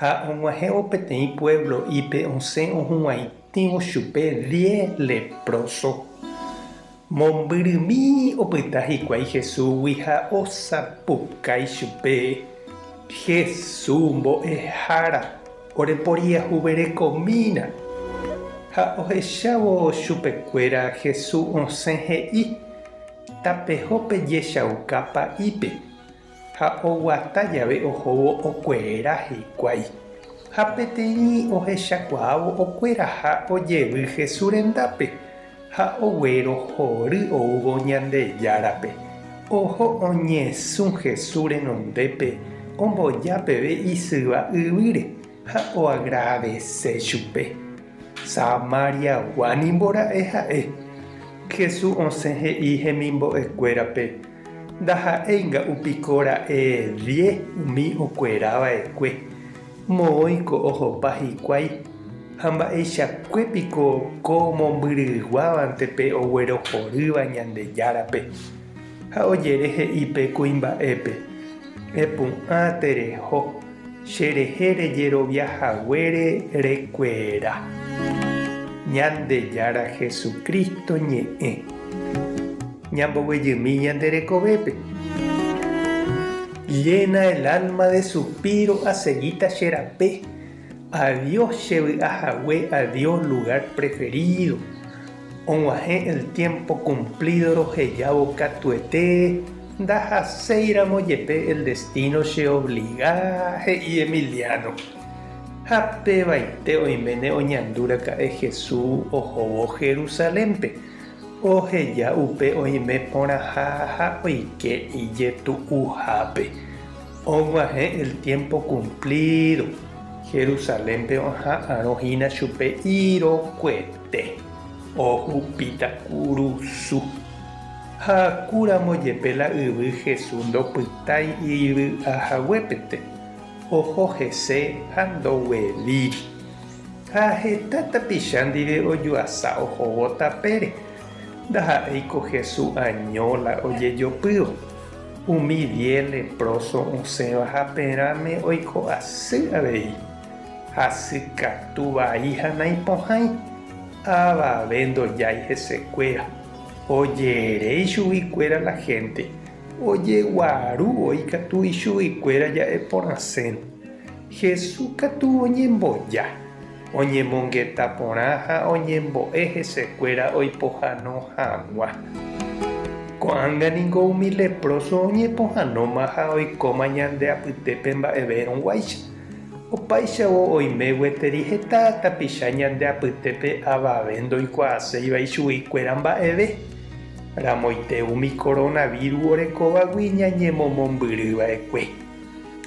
Ha og̃uahẽvo peteĩ puévlo'ípe osẽ ohuvaitĩvo chupe diez lepróso. Mombyrymi opyta hikuái Jesúsgui ha osapukái chupe, Jesús mbo'ehára, oreporiahuverekomína. Ha ohechávo chupekuéra Jesús osẽ he'i, Tapeho pejechauka pa'ípe. Ha oguata jave ohóvo okuera hikuái. Ha peteĩ ohechakuaávo okueraha ojevy Jesús rendápe, ha oguero hory oúvo Ñandejárape. Oho oñesũ Jesús renondépe omboja peve isyva yvýre ha oagradese chupe. Samariagua nimbora'e ha'e. Jesús osẽ he'i hemimbo'ekuérape, Ndaha'éi nga'u piko ra'e vie umi okuera vaekue, moõi ko ohopa hikuái, ha mba'eichakue piko ko mombyryguávante pe oguerohorýva Ñandejárape, ha ojere he'i pe kuimba'épe, Epu'ã tereho, che rehe rejerovia haguére rekuera. Ñandejára Jesucristo ñe'ẽ. Ñamboguejymi ñande rekovépe. Llena el alma de supiro Aseguíta che rape, Adiós che vy'a hague Adiós lugar preferido Og̃uahẽ el tiempo cumplido Rohejávo katuete Ndahaséiramo jepe el destino Che obliga, he'i Emiliano Ha pevaite oiméne oñandu raka'e Jesús ohóvo Jerusalénpe. Oheja upe oime porãha ha oike ijetu'uhápe. Og̃uahẽ el tiémpo kumplído. Jerusalénpe oha'arõ hína chupe irokuete. Ohupíta kurusu. Ha'akúramo jepe la yvy Jesús ndopytái ijy'ahaguépente. Oho hese ha ndogueríri. Ha heta tapicha ndive ojuasa ohóvo tapére. Ndaha'éi ko Hesu año la ojejopýva. Umi diez leproso osẽva haperãme oiko asy avei, hasy katu vai ha naipohãi. Avave ndojái hesekuéra. Oje'ere ichugui kuéra la hénte, ojeguaru voi katu ichugui kuéra ja'e porãsérõ. Jesús katu oñemboja, oñemongeta porã ha oñembo'e hesekuéra oipohano hag̃ua. Ko'ág̃a ningo umi leproso oñepohanóma ha oikóma ñande apytépe mba'everõguáicha. Opáichavo oime gueteri heta tapicha ñande apytépe avave ndoikuaaséiva ichuguikuéra mba'eve. Ramoite umi coronavirus orekovagui ñañemomombyriva'ekue.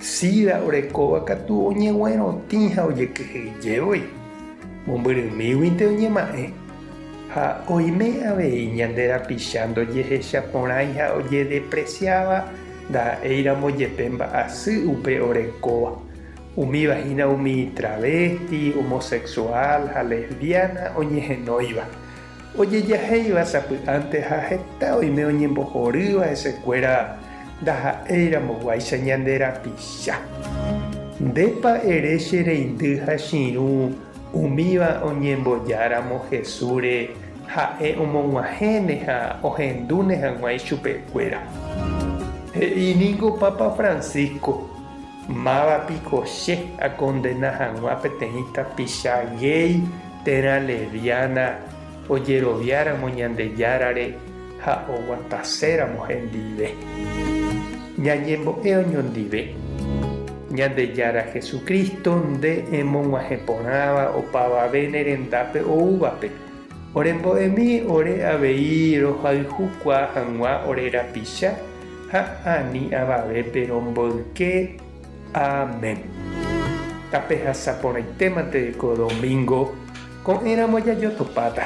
Sida orekóva katu oñeguerotĩ ha ojekyhyjevoi, mombyrymíguinte oñema'ẽ, ha oime avei ñande rapicha ndojehecha porãi ha ojedepresiáva ndaha'éiramo jepe mba'asy upe orekóva, umíva hína umi travésti, omosexuál ha lesbiána oñehenóiva. ojejahéiva sapy'ánte ha heta oime oñembohorýva hesekuéra ndaha'éiramoguáicha ñande rapicha. Ndépa ere che reindy ha chirũ umíva oñembojáramo Jesúsre ha'e omog̃uahẽne ha ohendúne hag̃ua ichupekuéra? He'i ningo Papa Francisco, Máva piko che akondena hag̃ua peteĩ tapicha géi térã leviána ojeroviáramo Ñandejárare ha oguataséramo hendive? Ñañembo'e oñondive. Ñandejára Jesucristo nde emog̃uahẽ porãva opavave ne rendápe oúvape, orembo'emi ore avei rohayhukua hag̃ua ore rapicha, ha ani avave pe romboyke. Amén. Tapehasa porãitéma tereko domingo ko'ẽramo jajotopáta.